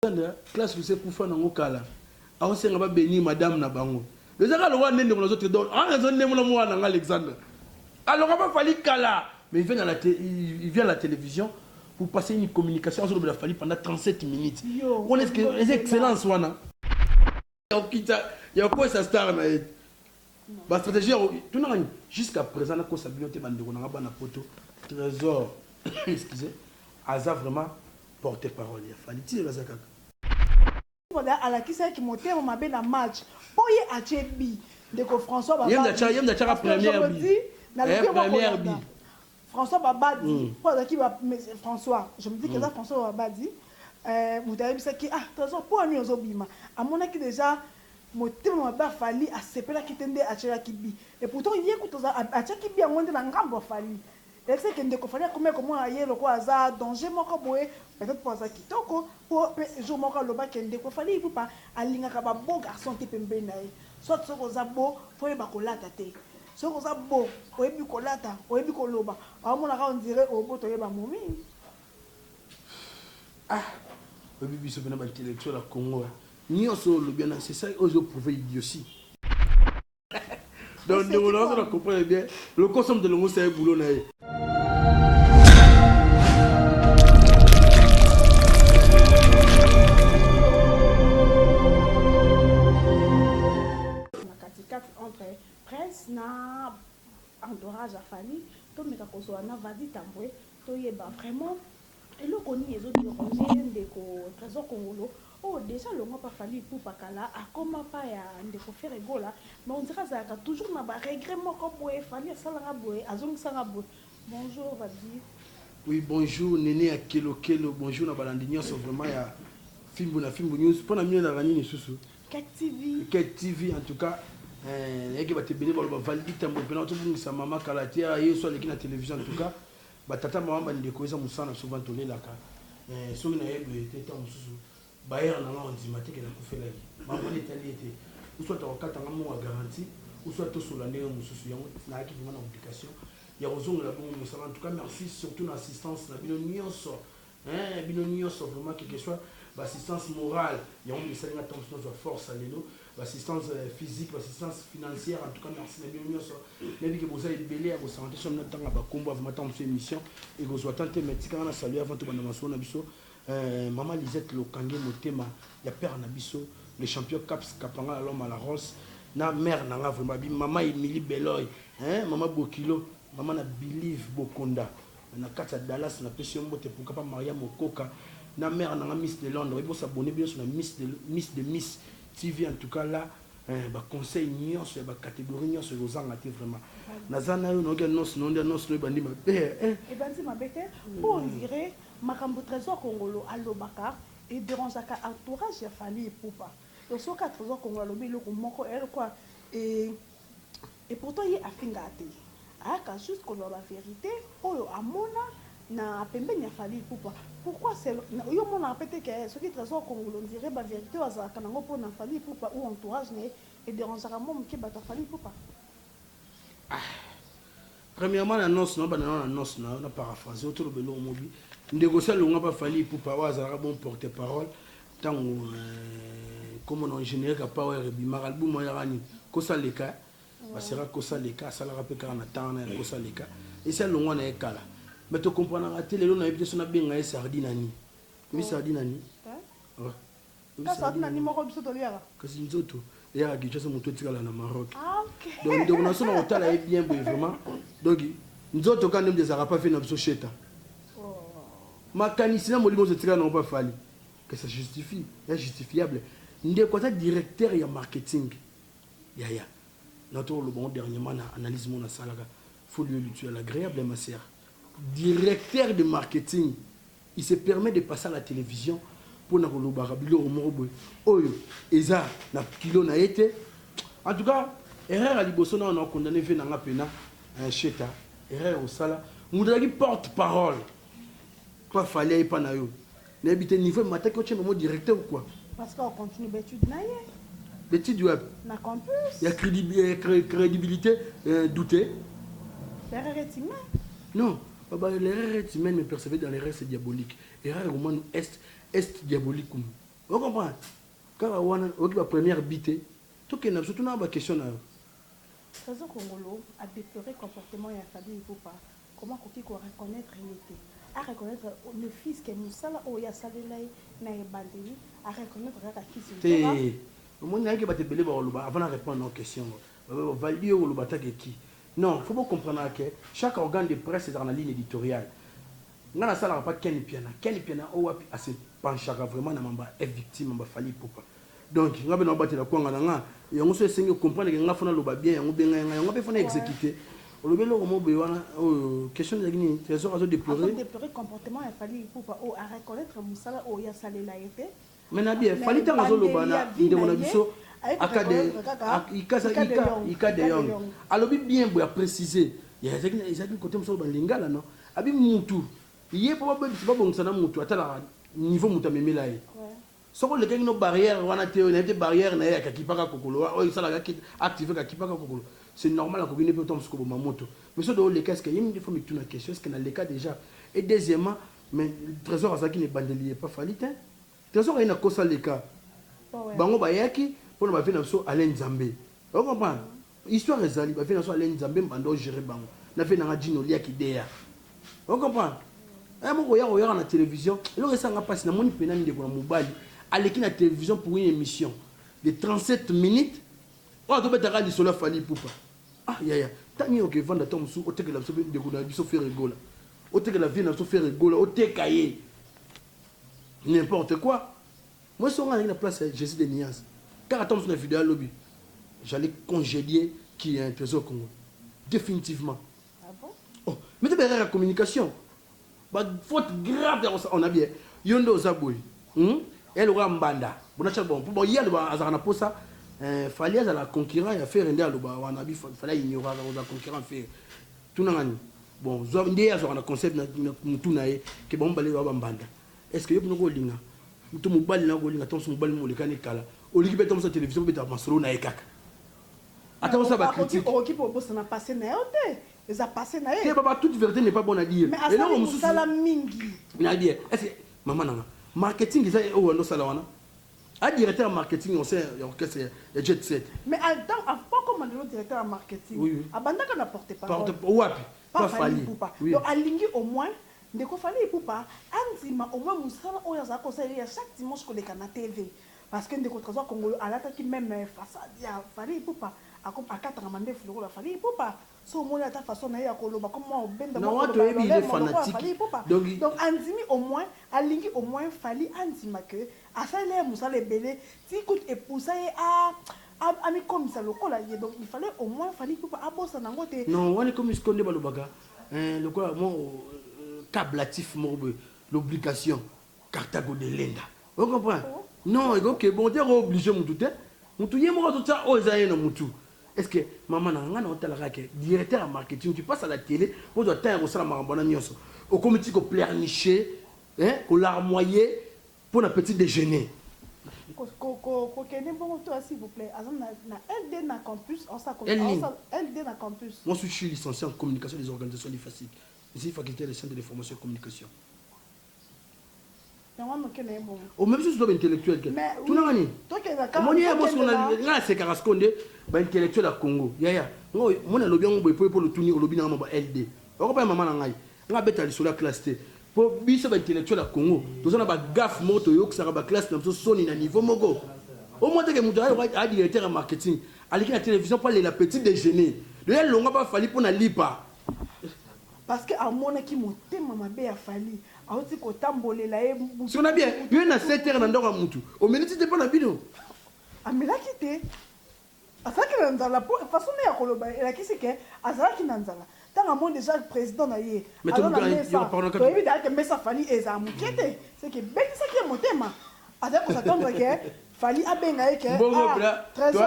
Alexandra classe lusa ekufa nango kala aosenga ba benir madame na bango ezaka lokola nde ndeko na zote donc a raison nde mona mwana nanga Alexandra aloka ba fali kala mais il vient à la il vient à la télévision pour passer une communication azolobela fali pendant 37 minutes wana est-ce que eza excellence wana okita ya kokwesa star na ye ba stratégie ya tunaka ni jusqu'à présent nakosa bino te bandeko na nga bana poto trésor excusez aza vraiment porte parole ya fali ti aza kaka Wada alakisaki motema mabe na match mpo ye atie bi ndeko François Baba yemda chaka première bi na eh, première bi François Babadi po azalaki ba François je me dis que eza François Babadi mutu ayebisaki ah Tresor pona nini ozo bima amonaki dejà motema mabe ya Fally asepelaki te nde atiolaki Bi et pourtant ye kutu atiaki Bi yango nde na ngambu ya Fally elakisaki que ndeko Fally akomaki komona ye lokola aza danger moko boye peut etre po aza kitoko po pe jour moko aloba que ndeko Fally Ipupa alingaka ba beau garçon te pembeni na ye soit soki oza beau fo oyeba kolata te Soki oza beau, oyebi kolata, oyebi koloba, bamonaka on dirait oboto oyeba momii. Ah! Oyebi biso pena ba intellectuel ya Congo hein. Nionso oyo olobi wana c'est ça oyo ezo prouver idiotie. Donc ndeko na ozo na comprendre bien, lokoso moto elongosa ye boulot na ye. Prince na entourage ya Fally tomeka kozua na Vady Tambwe toyeba vraiment eloko nini ezo derange ye ndeko Tresor Kongolo oyo dejà alongua pa Fally Ipupa kala akoma pa ya ndeko Ferre Gola mais on dirait azalaka toujours na ba regrets moko boye Fally asala nga boye azongisa nga boye Bonjour Vady. Oui bonjour Nene ya Kelo Kelo bonjour na balandi nionso vraiment ya Fimbu na Fimbu News pona bino ezalaka nini lisusu? Ket TV en tout cas eh, yaki bato ebele baloba validi tambwe mpena tobungisa mama kala te ah, yesu aleki na television en tout cas batata mama bandeko eza mosala na biso vani tolelaka eh, soki nayebele te ntango mosusu bayere na nga ondima te ke nakufelaki bamoni etali ye te usu ata kokatanga mongo ya garanti usu atosola ndenge mosusu yango nayaki vrima na obligation ya kozongela bongo mosala en tout cas merci surtout na assistance na bino nyonso Eeh bino nioso vraiment quelque soit ba assistance morale yango nde esali nga tangu nazua force ya lelo ba assistance physique ba assistance financière en tout cas merci na bino nioso nayebi ke boza ebele ya bosanga te soki nalingi natanga ba kombo ya vraiment tangu mosusu emission ekozua temps te mais tika nga na saluer avant tobanda masolo na biso eeh maman Lisette Lokange motema ya père na biso le champion Kaps Kapangala l'homme à la rose na mère na nga vraiment maman Emilie Beloy eeh maman Bokilo maman na Believe Bokonda Na kati ya Dallas na pesi yo mbote pourquoi pas Maria Mokoka na mère na nga miss de Londres oyebi bo s'abonner bino nionso na miss de miss de miss TV en tout cas là eeh ba conseils nionso ya ba categories nionso eko zanga te vraiment na za nayo nayoki annonce na yo nde annonce na yo ebandi mabe eeh. Ebandi mabe te po on dirait makambu Tresor Kongolo alobaka e derangeaka entourage ya Fally Ipupa donc soki kaka Tresor Kongolo alobi eloko moko eeh lokola eeh. Et pourtant ye afingaka te ayaka juste koloba ba verite oyo amona na pembeni ya Fally Ipupa pourquoi c'est yo omonaka pe te ke soki Tresor Kongolo on dirait ba verite oyo azalaka nango pona Fally Ipupa ou entourage naye e derangeaka mua muke batu ya Fally Ipupa? Premièrement na noce na yo banda nao na noce na yo na paraphrase yo toloba eloko moko bi ndeko osi alonga pa Fally Ipupa oyo azalaka bon porte parole tango kombo na yo generique power ebimaka album wana eyaka nini kosa leka eh ba sera kosa leka asalaka pe kaka na temps wana ya kosa leka esi alongwa na ye kala mais to comprenaka te lelo nayebi te soki nabenga ye sardine ya nini oyebi sardine ya nini? Kasi wapi na ni moko biso toliaka. Kasi nzoto eyaka Kinshasa moto etikala na Maroc. Ah ok. Donc ndeko na biso na kotala ye bien boye vraiment. Donc nzoto ka nde ezalaka pa vie na biso sheta. Makanisi na molimo ozo etikala na ngo pa Fally. Que ça justifie, ya justifiable. Ndeko aza directeur ya marketing. Yaya. Na to loba ngo dernièrement na analyse mona salaka. Faut lui lui tu as l'agreable ma sœur. Directeur de marketing. Il se permet de passer à la television pona kolobaka biloko moko boye oyo eza na kilo na ye te en tout cas erreur ya liboso nao nao condamne vieux na nga pena eh, Sheta erreur osala mutu azalaki porte parole pa Fally aye pa na yo nayebi te niveau emataki otie bango directeur ou quoi Parce que on continue b'etude na ye. B'etude wapi? Na campus. Ya credibilite euh, doute. Erreur etima. Non. Baba l'erreur est humaine mais percevez dans l'erreur c'est diabolique erreur ekomani est est diabolicum o comprendre kaka wana oyoki ba première bi te tokende na biso tuna ba question na yo Trezor Kongolo a deplorer comportement ya Fabien Ipupa comment akoki ko reconnaitre ye te a reconnaitre ne fus que musala oyo ye asalela ye na ebandeli a reconnaitre kaka kisi mpora te omoni nayaki bato ebele bakoloba avant na repondre na yo question yango Valdy yo koloba ata ke ki non faut bo comprenaka ke chaque organe de presse ezalaka na ligne editoriale nga na salaka pa ken mpiana ken mpiana oyo wapi a se penchaka vraiment na mamba est victime mamba fally ipupa donc nga pe nao batela kwanga na nga yango soki esengi o comprendre ke nga faut na loba bien yango benga ye nga yango nga pe faut na executer olobi eloko moko boye wana oyo question ezalaki nini tresor azo deplorer azo deplorer comportement ya fally ipupa oyo a reconnaitre musala oyo ye asalela ye te. Mais na bien Fally tango azo loba na ndeko na biso aka de ika de yong alobi bien boye a precise ezalaki na cote mosusu ba lingala no abi mutu ye po ba bongisa na mutu atalaka niveau mutu amemela ye soki olekaki no barrière wana te nayebi te barrière na ye ya kakipaka kokolo wa oyo esalaka ki active kakipaka kokolo c'est normal akoki ne pe to mosusu koboma moto mais soki oleka eske ye minde fo mituna question eske na leka dejà et deuxièmement Mais tresor azalaki na ebandeli ya epa Fally tein tresor aye na kosa leka bango bayaki pona ba vie na biso Alain nzambe ozo comprendre histoire ezali ba vie na biso Alain nzambe mbanda o gere bango na vie na nga djino lia kideya ozo comprendre eh moko ya oyaka na television eloko esa nga pasi na moni pena ndeko na mobali aleki na television pour une emission de 37 minutes oyo azo betaka lisolo ya Fally Ipupa Ah yaya tangi ya oke vanda tango mosusu otekela biso pe ndeko na biso ferre gola otekela vieux na biso ferre gola oteka ye n'importe quoi moi soki nga nazalaki na place ya Jesus de Nias kaka tango mosusu na video ya lobi j'allais congedier qui est un trésor congo definitivement oh mais te ba erreur ya communication Ba faute grave ya kosala on a bien yo nde oza boye hum ya lokola mbanda bona chaque bon po ye aloba azalaka na posa eh Fally azala concurrent ya Ferre nde aloba wana bi Fally a ignoraka kozala concurrent ya Ferre tuna nga nini bon zwa nde ye azwaka na concept na mutu na ye ke bango mibale ba ba mbanda est ce que yo pena oko linga mutu mobali na kolinga to musu mobali molekani kala olingi pe to musu television obeta masolo na ye kaka ata osala ba critique. Okoki pe kobosana passe na yo te. Eza passe naye. Keba ba toute verite n'est pas bon à dire. Mais asali musala mingi. Na bien. Est ce que maman nanga marketing eza oyo ando sala wana? A directeur ya marketing au sein ya orchestre ya Jet Set. Mais a temps a pas comme le directeur ya marketing. Oui. Abandaka na porte parole. Porte wapi? Pas Fally Ipupa. Oui. Donc alingi au moins ndeko Fally Ipupa andima au moins musala oyo azali kosala ye ya chaque dimanche koleka na TV. Parce que ndeko Tresor kongolo alataki meme façade ya Fally Ipupa ako akataka mandefu lokola Fally Ipupa soki omoni ata façon naye ya koloba comme mwa obenda mwa Nawa koloba ya toyebi il est lolemo lokola fanatique Fally Ipupa donc il donc andimi au moins alingi au moins Fally andima que asalela ye musala ebele ti kutu e poussa ye a a amikomisa lokola ye donc il fallait au moins Fally Ipupa abosana yango te Non wana ekomi sikoyo nde balobaka eh, lokola mwa o eh, kablatif moko boye, l'obligation. Cartago de lenda o comprendre non eko ke bon te ko oblige mutu te mutu ye moko azo tia oyo eza ye na mutu est ce que maman nanga nga nao tala kaka ke directeur ya marketing tu passes à la tele ozua temps ya ko sala makambo wana nionso okomi ti ko pleurnicher hein ko larmoyer pona petit dejeuner ko kende bongo to ya s'il vous plait aza na na LD na campus azo sala quelle ligne LD na campus moi suis licencier en communication des organisations du FASIC ici faculté des sciences de l'information et communication. omemi susu to ba intellectuel te tuna nga nini omoni yaya mwasi nga nasekaka siko nde ba intellectuel ya congo yaya moni alobi yango boye po lotuni olobi na nga mwa ba ld okopa ya mama na ngai nga abeta lisolo ya classe te po biso ba intellectuel ya congo toza na ba gaf moko toyokisaka ba classe na biso soni na niveau moko omoteke moto aya directeur ya marketing aleki na television po alela petit déjeuner loya longwa pa fali po na lipa Parce que amonaki motema mabe ya Fally awuti kotambolela ye butu. Sona bien yo na 7 heures na ndako ya mutu omeli ti te pona bino. Amelaki te azalaki na nzala po façon naye ya koloba elakisi ke azalaki na nzala tango amoni dejà president na ye aza na mesa toyebi dejà ke mesa Fally ezala mukie te ce qui ebetisaki ye motema Azali ko s'attendre que Fally abenga ye que ah Tresor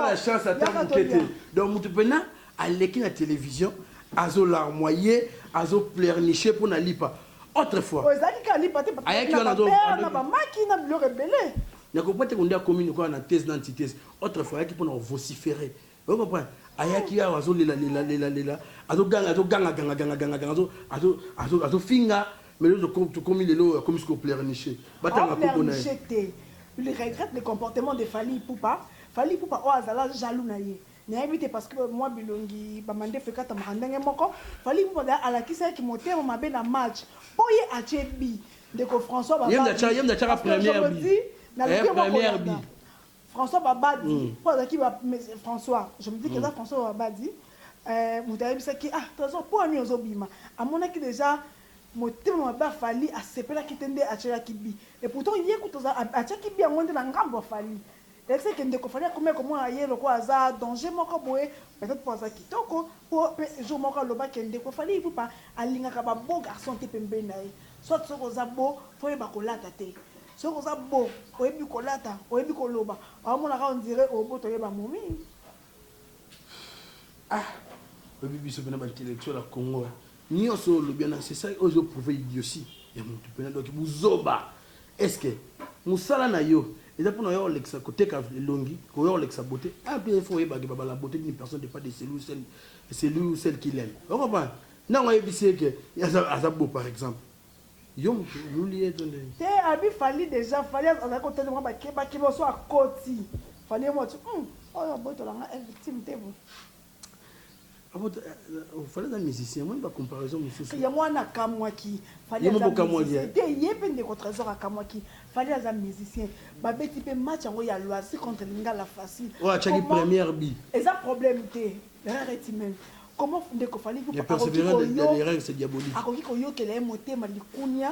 yaka tolia. Donc mutu pena aleki na television azo larmoyer azo pleurnicher pona lipa autre fois. Oyo ezalaki kaka lipa te papa na ba pere na ba maki na biloko ebele. Nakopate ko nde akomi lokola na thèse na antithèse autre fois ayaki pona ko vocifere. Ozo comprendre? Ayaki awa azo lela lela lela lela azo ganga azo ganga ganga ganga ganga ganga azo azo azo azo finga mais lelo toko tokomi lelo oyo akomi sikoyo pleurnicher ba Azo tanga kombo naye. pleurnicher te. Il regrette le comportement de Fally Ipupa. Fally Ipupa oyo azala jaloux na ye. Nayebi te parce que mua bilongi ba mandefu ekatamaka ndenge moko. Fally Ipupa d'ailleurs alakisaki motema mabe na match po ye atie but. Ndeko François Ye mutu Baba atia ye mutu atiaka parce que je première me but. dis naluki Eh yango première but. kolanda. François babadi po azalaki ba François je me dis que eza François babadi mutu ayebisaki ah tresor pona nini ozo bima amonaki dejà motema mabe ya Fally asepelaki te nde atiolaki bi et pourtant ye kutu atiaki bi yango nde na ngambu ya Fally elakisaki que ndeko Fally akomaki komona ye lokola aza danger moko boye peut etre po aza kitoko Po pe jour moko aloba ke ndeko Fally Ipupa alingaka ba beau garçon te pembeni na ye. Soit soki oza beau faut oyeba kolata te. Soki oza beau oyebi kolata, oyebi koloba, azo mona kaka on dirait oboto ye ba momies. Ah oyebi biso pe na ba intellectuel ya congo Nionso oyo olobi wana c'est ça oyo ezo prouver idiotie ya mutu pena donc buzoba est ce que musala nayo eza pona oya kolekisa koteka elongi koya kolekisa beaute ah bien il faut oyeba que ba bala beaute d'une personne depend de celui ou celle celui ou celle qu'il aime o comprendre ntango ayebisi ye que aza aza beau par exemple yo mutu oluli ye to ndenge te abi fally dejà fally azali kotelema mwa bakeba keba oso akoti fally ye mwa ti hum oyo abotola nga elle victime te boye fali aza musicien omoni bacomparaison mosusu yango wana akamwaki te ye mpe ndeko trésor akamwaki fali aza musicien babeti mpe match yango ya loisi contre lingala facile oyo achaki première bi eza problème te raretimen comment ndeko fali akoki koyokela ye motema likunia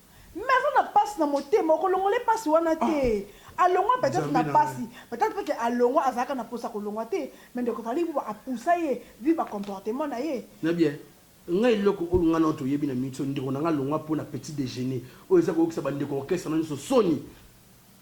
Mais aza na pasi na motema okolongola ye pasi wana te alongwa peut etre na pasi peut etre que alongwa azalaka na posa kolongwa te mais ndeko Fally Ipupa a poussa ye vu ba comportement na ye. Na bien nga eloko oyo nga na yo toyebi na miso ndeko na nga alongwa po na petit dejeuner oyo eza koyokisa ba ndeko orchestre na yo nioso soni.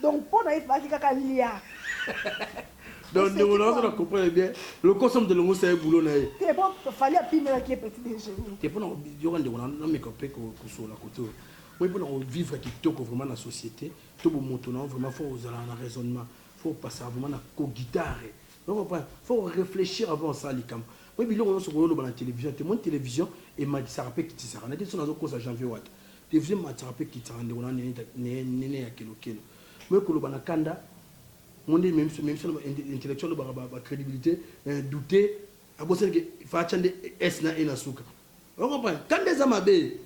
Donc po na ye fallaki kaka alia. Donc ndeko na ozo na comprendre bien lokoso moto elongosa ye boulot na ye te po fali apimelaki ye petit déjeuner te pona yoka ndeko na na meko pe kosola kote oyo moi pona ko vivre kitoko vraiment na société to bo moto na vraiment faut ozala na raisonnement faut passer vraiment na ko guitare donc comprendre faut réfléchir avant osala likambo moi biloko nyonso koyoloba na télévision te moi télévision emakisaka pe kitisaka na te so nazo kosa janvier wata Television ematisaka pe ekitisaka ndeko na nga Neneya Kelokelo. Boye koloba na kanda, ngo nde ememi biso, ememi biso na intellectuel alobaka ba credibilite, eh doute, abosani ke il fallait atia nde S na E na suka. Ozo comprendre? Kanda eza mabe.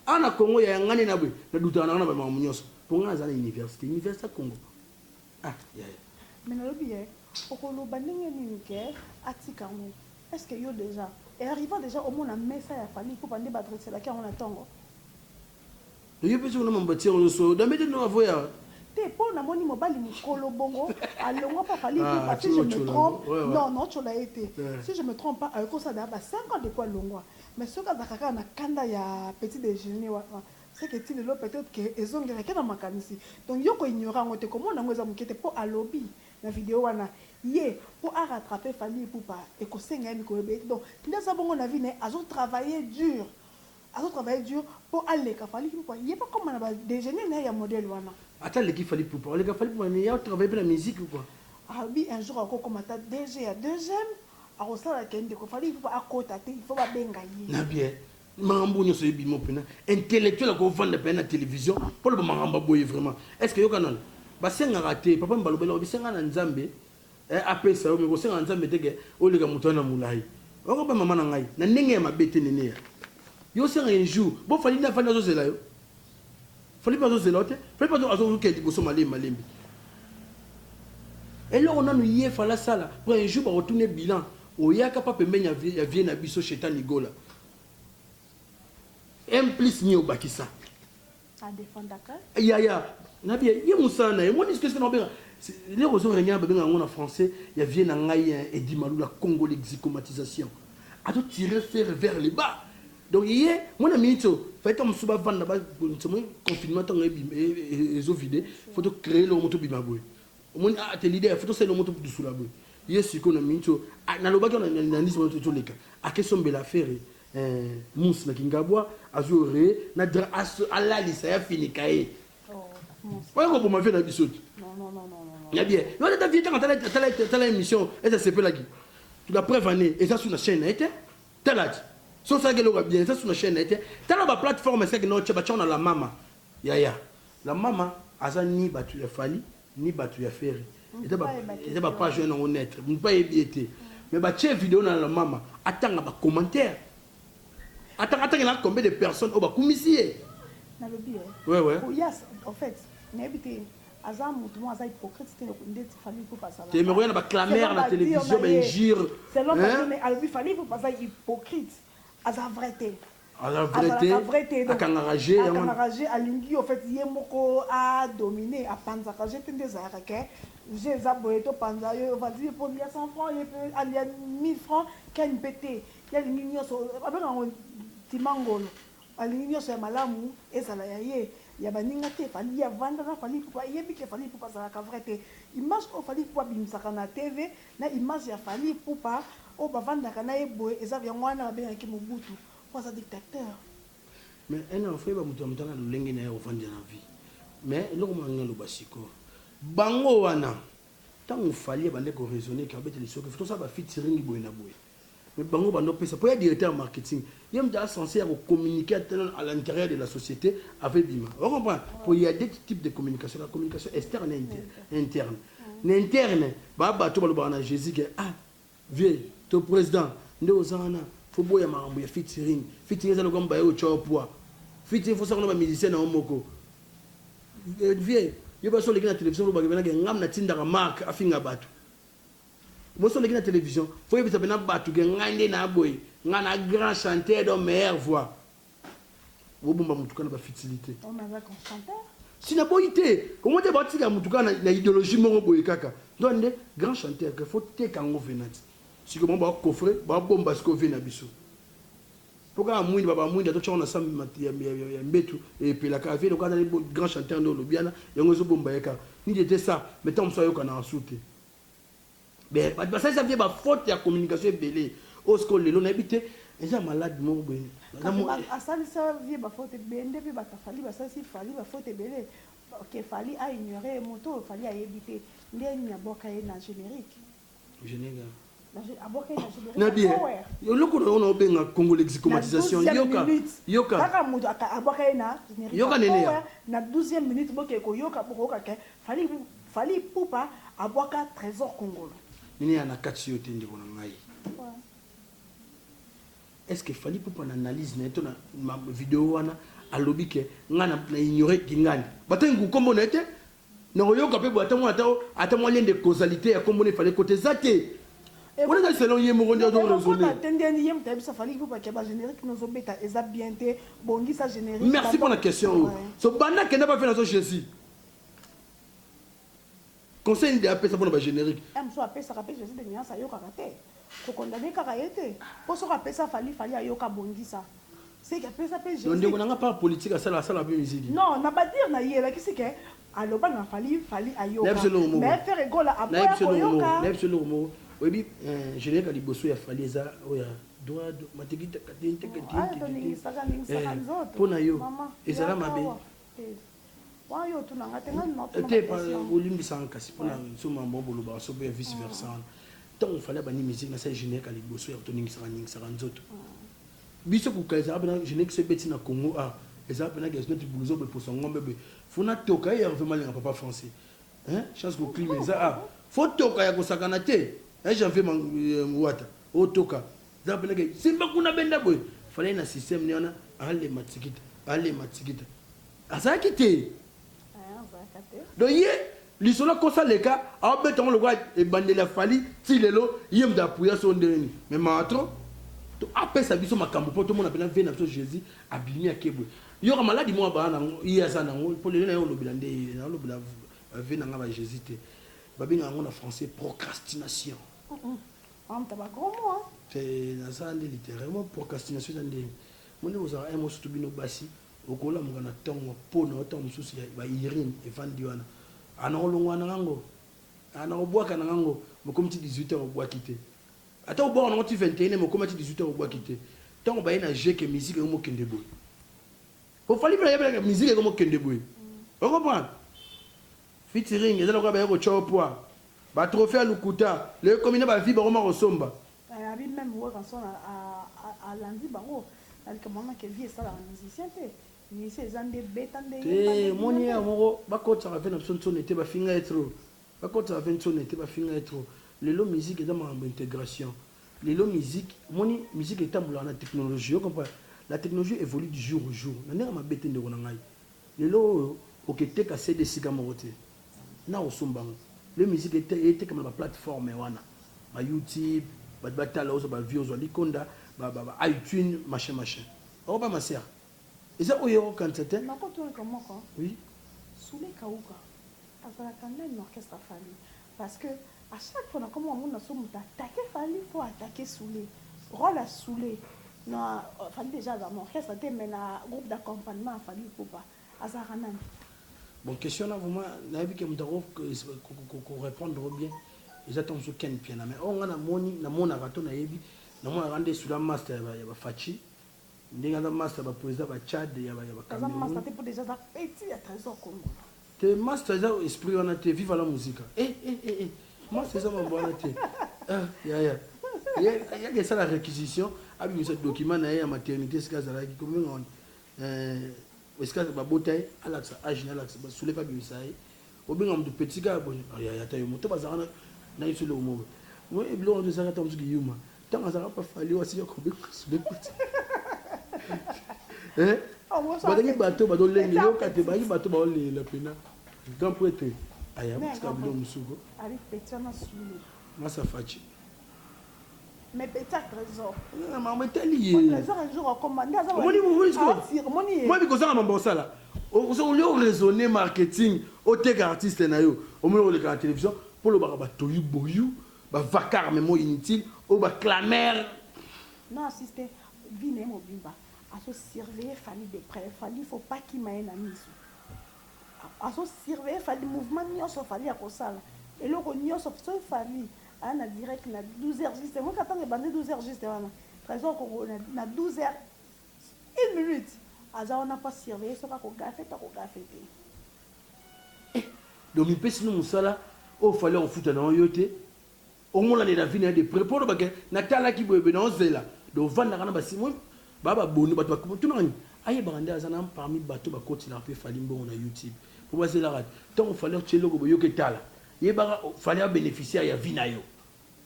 Awa na Congo yaya nga nde na boye, na doutaka na nga na ba makambo nionso. Po nga naza na universite, universite ya Congo. Ah yaya. Mais nalobi ye okoloba ndenge nini que atika yango est ce que yo dejà et arrivant dejà omona mesa ya Fally Ipupa nde ba dresselaki yango na tongo? Mais yo pe soki na mambo atia oyo soyo dambe te no avoya. Te po namoni mobali mukolo bongo alongua pa Fally Ipupa si je me trompe non nao tshola ye te si je me trompe pas akoki kosala dejà ba cinq ans depuis alongua mais soki azalaka kaka na kanda ya petit dejeuner wana Ce que ti lelo peut-etre que ezongelaka ye na makanisi. Donc yo ko ignorer yango te, komona yango eza muke te po alobi na video wana ye po a rattraper Fally Ipupa ekosenga ye mikolo ebele te. Donc nde aza bongo na vie na ye, azo travailler dur, azo travailler dur po aleka Fally Ipupa, ye pe akoma na ba dejeuner na ye ya modèle wana. Ata aleki Fally Ipupa, oleka Fally Ipupa mais ye a travailler pe na musique ou quoi? Alobi un jour ako koma ata DG ya deuxième, akosala que ndeko Fally Ipupa akota te, il faut ba benga ye. Na bien. Makambo oyo nionso ebima oyo pena intellectuel ako vanda pena na television po aloba makambo ya boye vraiment est ce que yoka nanu ba sengaka te papa mbala obele obi senga na nzambe eh apesa yo mais ko senga na nzambe te ke oleka mutu wana mulayi oko ba maman na ngai na ndenge ya mabe te neneya yo senga un jour bo fally nde avandi azo zela yo Fally pe azo zela yo te fally pe azo luka ya liboso malembe malembe eloko nanu ye fally asala po un jour bako tuna ye bilan oyaka pa pembeni ya vie ya vieux na biso shetani gola un plus nini obakisa a defendaka yaya na bien ye musala na ye omoni sikoyo na obenga lero ozo renya babenga yango na français ya vieux na ngai Eddy Malula Congo l'exicomatisation azo tirer ferre vers le bas Donc ye mwana minutes oyo fallait tango mosusu bavanda babongisa omoni confinement ntango ebima e- e- e- ezo vide fo to créer eloko moto obima boye omoni ah, te leader fo tosala eloko moto dusula boye ye sikoyo na minutes oyo ah, nalobaki wana na- na ndisi wana to- toleka ake sombela affaire eh, mousse na kingabwa azwi ore na dra aso- alalisa ya finika ye oya koboma vie na biso te ya bien yo ata vie ntango atala- atala atala émission ete asepelaki la preuve année eza su na chaîne na ye te Tala ti soki osalaki eloko ya bien eza sous na chaine naye te tala ba plate forme esika akendaki otia batiango na la mama yaya la mama aza ni batu ya fally ni batu ya ferre eza ba page oyo nango nette mutu pe ayebi ye te mais batie video na la mama atanga ba commentaire atanga atangelaka combien de personnes oyo bakumisi ye nalobi eh ouais ouais oh yas en fait nayebi te. Aza mutu moko aza hypocrite te ndeti fally ipupa azalaka. Te mais koya na ba clameurs na television ba injures hein. Selon ba dire naye alobi fally ipupa aza hypocrite aza vrai te. Aza vrai te azalaka vrai te akangaka jeu yango wana. Akangaka jeu alingi au fait ye moko a dominer a panzaka jeu te nde ezalaka que jeu eza boye to panza yo ovandi ye pe olia 100 francs ye pe alia 1000 francs ken pe te ye alingi nionso ba bengaka ngo timangolo. Alingi nionso ya malamu ezala ya ye, ya baninga te, Fally avanda na Fally Ipupa ayebi que Fally Ipupa azalaka vrai te, image oyo Fally Ipupa abimisaka na TV na image ya Fally Ipupa oyo bavandaka na ye boye eza yango wana babengaki Mobutu po aza dictateur. Mais un enfant yeba mutu ya mutu aza na lolenge naye ya kovandela na vie mais eloko moko nalingi naloba sikoyo bango wana tangu Fally abandaki ko raisonner que abetela lisoki tosala ba featuring boye na boye Mais bango bando pesa po ya directeur ya marketing ye mutu aza sense ya ko communique ata nanu à l'interieur de la societe ava ebima ozo comprendre po ya de type de communication la communication externe na interne na interne ba batu oyo balobaka na Jesus ke ah vieux to president nde oza wana faut boya makambo ya featuring featuring eza lokola mobali oyo otya yo poids featuring faut osala na ba musicien na yo moko vieux yo basi oleki na television olobaka ebena ke ngam natindaka mark afinga batu Mwasi oleki na television faut oyebisa pena batu ke ngai nde na boye ngai na grand chanteur donc meilleur voix bobomba mutu kaka na ba futilite. Oyo naza grand chanteur? Si na boyi te omo te bao tika mutu kaka na ideologie moko boye kaka donc nde grand chanteur que faut teka yango venant sikoyo bango bao coffre bao bomba sikoyo vie na biso. Po kaka muinda ba ba muinda to tia ngo na sam ya mbetu epela kaka vie lokola azali grand chanteur nde olobi wana yango ezo bomba ye kaka ni de te sa mais tango mosusu ayokanaka su te mais batu ba salisa vie ba faute ya communication ebele oyo sikoyo lelo na yebi te eza malade moko boye na mua asalisa vie ba faute ebende pe batu ya fally ba salisi fally ba faute ebele que fally a ignorer ye moto oyo fally ayebi te nde nini abuaka ye na generique. nabi eloko na ona obenga congo lexicomatisation yoka yoka kaka moto abwaka ye na yoka nene ya na 12e minute boke koyoka bokoyoka ke fali fali pupa abwaka trésor congolo nene ya na kati yo te ndeko na ngai est ce que fali pupa na analyse na ye to na video wana alobi ke ngai na ignore kingani batangi kokombo na ye te Nako yoka pe boye ata mua ata ata mua lien de causalité ya kombo na ye fally ekota eza te wana eza selon ye moko nde azo raisonner. Merci pona question oyo so banda kenda ba vela zo jesus conseil nini de apesa pona ba generique. Ko condamne kaka ye te po soki apesa Fally, Fally ayoka abongisa seke apesa pe Jesus. Donc ndeko na nga part politique asalaka asalaka pe musique? Non na ba dire na ye elakisi ke aloba na Fally, Fally ayoka mais Ferre Gola aboya koyoka. Nayebi biso eloko moko oyebi generique ya liboso ya Fally eza oyo ya droit de matikita katin teke tin titi tin eh po na yo ezala mabe? Wana yo otuna nga te nga nima otuna te pa olimbisa nga kasi pona nsoma mwa bolobaka soki ya vice versa wana ntango fale abandi musique na sali générique ya liboso ya toningisaka ningisaka nzoto biso kuka ezalaka pena générique so ebeti na congo a ezalaka pena gaz neti buluzo boye poso ngombe boye fo natoka ye herve malinga papa français chance koklima eza a fo toka ya kosakana te janvier wata otoka Eza pena ke simba kuna benda boye fallait na système ni wana alema tikita alema tikita azalaki te donc ye lisolo akosa leka aobeta yango lokola ebandeli ya fali ti lelo ye moto apuya so ndenge nini mais mawa trop to apesa biso makambo mpo tomona mpena vie na biso jésus abimi akebwe yoka maladi moko abaa nango ye aza nango mpo lelo naye olobela nde ye naolobela vie na ngai ba jésus te babenga yango na français procrastination Entre ba grand mois. Te naza nde literairement procrastination eza ndenge moni kozala un mois surtout bino basi okolamuka na tongo po na yo tango mosusu ya ba urine evandi wana ah nakolongola na nga ngo ah nakobwaka na nga ngo mais okomi ti 18 heures obwaki te ata obwaka na ngo ti 21 heures mais okoma ti 18 heures obwaki te tango baye na jeu que musique ekomi okende boye po Fally pe ayebelaka musique ekomi okende boye o comprendre Featuring eza lokola baye kotia yo poids. Ba trophees ya lokuta. Lelo ekomi nde ba vues bakoma kosomba. Nayebi meme Werrason alandi bango na likambo wana que vie esalaka musicien te. Musicien eza nde beta nde yemba nde bina nde. Te omoni ye ya moko bakotisaka pe na biso nsoni te bafinga ye trop. Bakotisaka pe nsoni te bafinga ye trop. Lelo musique eza makambo ya integration. Lelo musique omoni musique etambolaka na technologie. Ozo comprendre? La technologie evolue du jour au jour. Na ndenge ya mabe te ndeko na ngai. Lelo oyo oke teka CD esika moko te n'a ko somba yango le musique etekama na ba plate forme wana ba youtube batu ba tala ozwa ba vue ozwa likonda ba ba ba itune machin machin oko ba maser eza oyo oko kanisa te. Nako tuna kamoko oui. Soule Kauka azalaka nani na orchestre ya Fally? Parce que à chaque fois na komi komona soki mutu attaque Fally faut attaque Soule. Role ya Soule na Fally dejà azalaka na orchestre te mais na groupe d'accompagnement ya Fally Ipupa azalaka nani? Bon question na vraiment nayebi ke mutu ako ko repondre yo bien eza tango mosusu Ken Mpiana mais oyo nga namoni namonaka to nayebi namonaka nde Soule a master ya ba Fatshi Ndenge aza masta ba president ba Tchad ya ba Cameroun. Aza masta te po dejà aza petit ya tresor kongolo. Te masta eza esprit wana te viva la musica eh eh eh eh masta eza mambo wana te ah yaya yaka esala requisition abimisa document naye ya maternite esika azalaki kobenga wana eh esika babota ye alakisa age na alakisa ba soule pe abimisa ye Obenga mutu petit kaka boye ah yaya ata yo moko to bazalaka na na ye biso eloko moko boye oui biloko yango ezalaka ata mosusu kiyuma ntango azalaka pa fali oyo asika kobenga sube pati eh bazalaki bato oyo bazolengela yoka te bazalaki bato baolengela mpena grand prêtre aya kotika biloko mosusu ko masa faci mais petit à trésor na maman etali ye trésor un jour akoma nda aza moni moni siko moni ye moni kozanga mambo osala ozo olio raisonner marketing oteka artiste na yo omoni oleka na television polo baka ba toyu boyu ba vacar mais mo inutile oyo ba clamer non assiste vie na ye mobimba azo surveiller fally de près fally faut pas kima ye na misu azo surveiller fally mouvement nioso fally akosala eloko nioso soki fally Aya na direct na 12 heures juste omoki ka tango ebandi 12 heures juste wana tresor congo na 12 heures une minute aza wana mpo asurveille soki akogafe to akogafe te eh, donc mipesi no mosala oyo fali akofuta na yo te omonanela vi na ye de près mpo olobake natalaki boyebe na ozela donc ovandaka na basimo Ba ba boni batu ba tuna nga nini ayebaka nde aza na parmi bato ba kotelaka pe Fally mbongo na YouTube po ba zelaka te tango Fally atie eloko boye yo ke tala yebaka Fally a beneficiaire ya vie nayo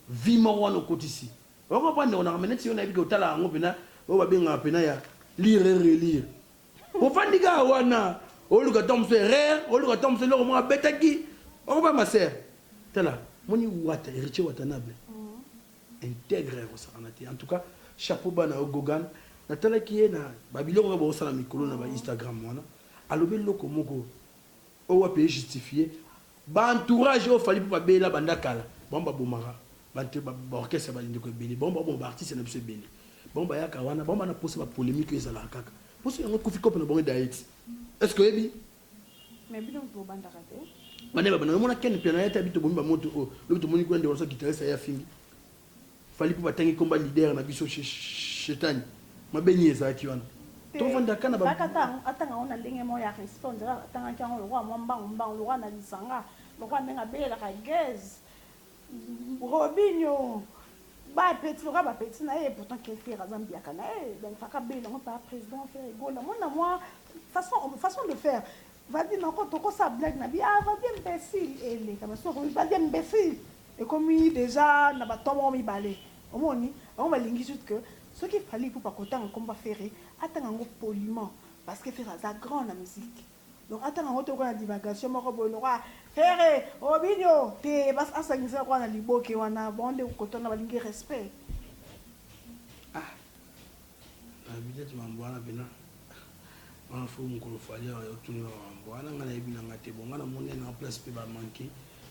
vie moko wana okotisi o comprendre ndeko nanga mais neti yo nayebi ke otalaka yango pena oyo ba bengaka pena ya lire et relire ofandi kaka wana oluka tango mosusu erreur oluka tango mosusu eloko moko abetaki o comprendre ma sœur tala omoni wata Heritier Watanable Integre yako sakana te en tout cas chapeau bas na yo Gogan na talaki ye na ba biloko kaka bazo sala mikolo na ba Instagram wana alobi eloko moko oyo wapi e justifier ba entourage oyo Fally Ipupa abela banda kala bango ba bomaka batu ba orchestre ba ndeko ebele bango ba boma ba artistes na biso ebele bango bayaka wana bango ba na posa ba polemique oyo ezalaka kaka poso yango ekufi coop na bango edayeti est ce que oyebi Mais bino mutu bobandaka te. Banda ba banda omona Ken mpiana yate abi tobombi ba moto oyo lobi tomoni kuna ndeko na biso guitariste aye afingi Fally Ipupa atangi komba leader na biso chez Shetani mabe nini ezalaki wana tovanda kaka na ba Ezalaki ata yango atanga yango na ndenge moko ya respect on dirait atangaki yango lokola mwa mbangu mbangu lokola na lisanga lokola ndenge abelelaka guez Robinho ba petulaka ba petits naye pourtant ken ferre aza mbiaka naye donc faka abela ngo papa president ferre gola mona mwa façon façon de faire valdy noko toko sala blague na bi ah valdy imbecile eleka basi okomi valdy imbecile ekomi dejà na ba temps moko mibale omoni bango balingi juste que soki fally ipupa akotanga kombo ya ferre atanga ngo poliment parce que ferre aza grand na musique Donc atanga ngo te lokola na divagation moko boye lokola Ferre Robinho te bas asangisa lokola na liboke wana bango nde kokoto wana balingi respect ah na bidete mambo wana pena wana fo mokolo fali awa otuni ba mambo wana nga nayebi na nga te bon nga namoni na place mpe ba manque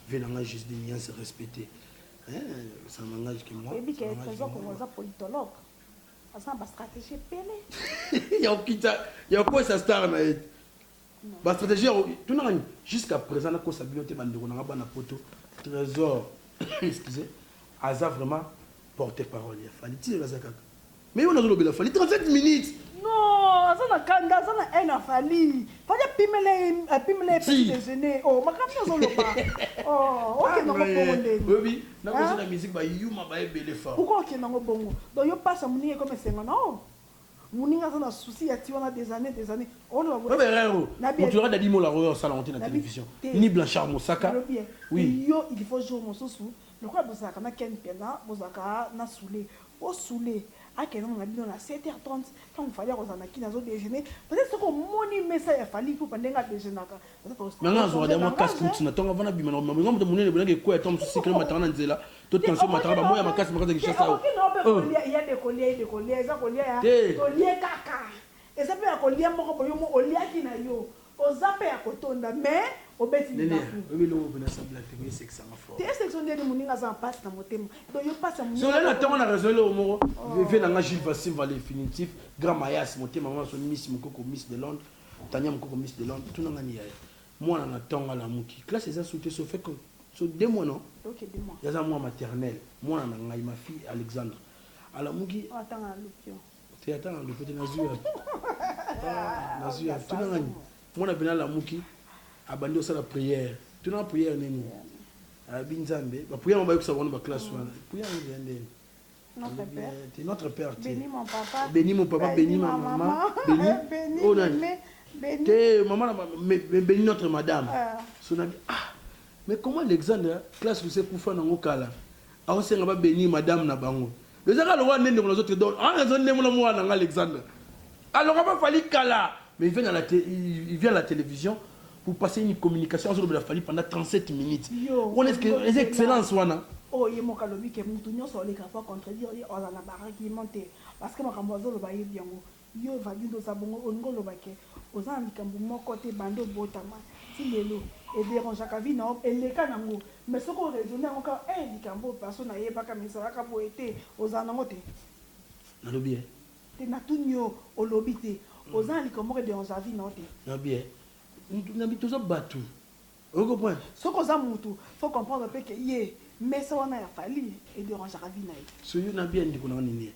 vie na nga juste de bien se respecter eh, ça n'engage que moi oyebi ke trésor kongo aza politologue aza na ba stratégie ebele ya kokita ya kokwesa star na ye ba stratégie ya tunaka ni jusqu'à présent nakosa bino te bandeko na nga bana poto trésor excusez aza vraiment porte parole ya fali ti aza kaka mais wana azolobela fali 37 minutes non aza na kanda aza na haine afali fali apimela apimela ye petit déjeuner oh makambo azoloba oh okenda mabongo ndenge Nako Hein? zela musique ba yuma baye ebele fort. Pourquoi okende nango bongo? Donc yo pasi ya muninga ekoma esengo na yo? Muninga aza na souci ya ti wana des annees des annees oloba boye. Oyebi erreur oyo Nabi mutu lokola Daddy Mola oyo asala yango te na Nabi television te. ni Blanchard Mosaka Olobi bien. oui Yo il faut jour mosusu lokola bozalaka na Ken Mpiana bozalaka na Soule po Soule akenda na bino na 7h30 tango Fally akozala na kin azo dejeuner peut-être soki omoni mesa ya Fally Ipupa ndenge a dejeunaka Na nga nazwaka dejà mua casse croute na tonga avant nabima na komema bongo moto munene boye nake kweya tango mosusu sucre emataka na nzela to tension emataka ba moyi ya makasi makasi ya Kinshasa oyo. Tania mukoko miss de londres tuna ngani yaya mwana na tonga lamuki classe eza sute so feko so de mois non okay, de mois yaza mwa maternelle mwana na ngai ma fille alexandre alamuki oh, atanga na lupio te atanga na lupio te nazui ya ah, nazui ya tuna ngani mwana pena alamuki abandi osala prière tuna prière nini alabi nzambe ba prière ma bayokisa bango ba classe wana prière nzambe nini Notre Père. Te notre père te Bénis mon papa. beni mon papa beni ma mama beni Bénis oyo nani Meme. Bénis. te mama na ma- me- me- beni notre madame Ah. so nabi ah mais comment alexandre classe lise kufa nango kala aosenga ba beni madame na bango ezaka lokola nde ndeko nazo te donc ah nazo nde mona mwana nanga alexandre aloka ba fali kala mais il vient à la té- il il vient à la télévision Pour passer une communication azo lobela Fally pendant 37 minutes wana est ce que eza excellence wana? Oyo ye moko alobi que mutu nionso alekaka po a contredire ye azala na ba arguments te parce que makambo azo loba ayebi yango. Yo Vagund oza bongo olingi oloba que oza na likambo moko te banda obotama ti lelo e derangeaka vie na yo eleka na ngo mais soki o raisonner yango kaka eh likambo oyo perso na yebaka mais ezalaka boye te ozala na ngo te. Nalobi eh. Te natuni yo olobi te oza na likambo moko ederange na vie na yo te. Na bien na bi toza batu ozo comprendre. Soki oza mutu faut comprendre pe que ye mesa wana ya Fally ederangeaka vie na ye. So yo na bien ndeko na nga niniee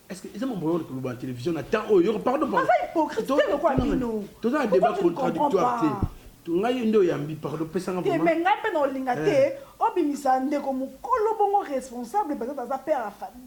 est ce que eza mambo ya ko loba na television na temps oyo yoko pardon pardon. Aza hypocrite te lokola bino. Toza na debat contradictoire te. Ngai nde oyambi pardon pesa nga vraiment. Te mais ngai pe na olinga te obimisa ndeko mukolo bongo responsable peut etre aza père ya Fally.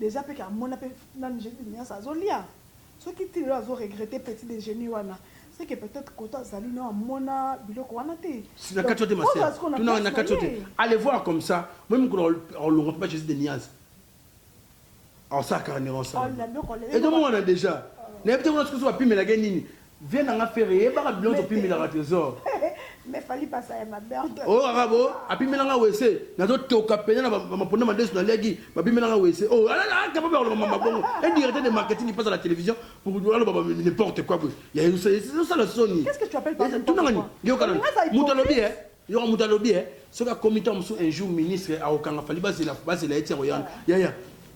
Dejà pe ka mona pe nanu JB de Niassa azo lia soki ti lelo azo regretter petit dejeuner wana c'est que peut-etre kote azali no amona biloko wana te Si na kati yo te ma sœur, tuna nga na kati yo te, allez voir comme ça moi mukolo ako longwa papa Jesus de Niassa ako sala carnirance wana, ezo monana dejà, na yebi te kuna soki ba pimelaka ye nini. Vieux na nga Ferre yebaka biloko to pimelaka Tresor. Mais Fally pasa ya mabe en tout. Oyoka ka bo a pimela nga wese nazo toka pena na ba maponda madesu na liaki ba pimela nga wese oh ala la capable ya koloba mama bongo un directeur de marketing qui passe à la télévision pour aloba ba n'importe quoi boye ya ezo sala soni. Qu'est-ce que tu appelles par n'importe quoi? Tuna nga nini? Yoka nanu. Mutu alobi eh. Yoka mutu alobi eh soki akomi tango mosusu un jour ministre akokanga Fally bazela bazela ye ti akoya wana yaya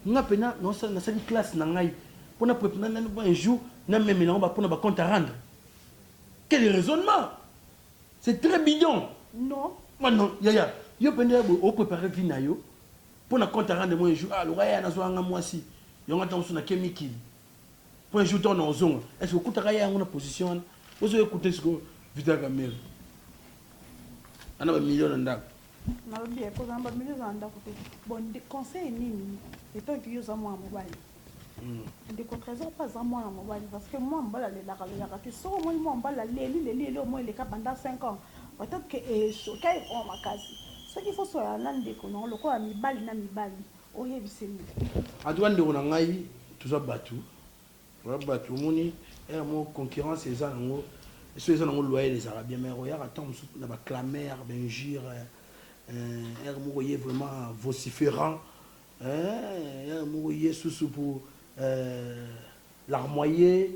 nga pena naosala nasali classe na ngai po na prep na na un jour na memela yango ba pona ba compte à rendre quel raisonnement c'est très bidon non ma non yaya yo penda ya boye o prepare vie na yo po na compte à rendre moi un jour ah loka yaya nazwaka nga mwasi yango ata mosusu na ke mikili po un jour to na ozonga est ce que okutaka ye yango na position wana ozo ye kute siko vital kamere ana ba million na ndako nalobi ye kozala ba million za ndako te bon conseil nini etant que yo za mwana mobali hmm. ndeko trésor mpe aza mwana mobali parce que mwana mobali alelaka lelaka te soki omoni mwana mobali aleli leli eleo moi eleka banda 5 ans peut-être que echoka ekoma makasi soki fosoyana ndeko nango lokola mibali na mibali En tout cas ndeko na ngai toza batu toza batu omoni heure moko concurrence eza nango soki eza nango loyal ezalaka bien mais oyaka temps mosusu na ba clameur ba injure heure moko oye vraiment vociferant heure moko oye susu pour larmoyer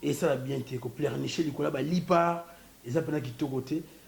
esala bien te ko pleurnicher likolo ya ba lipa eza pena kitoko te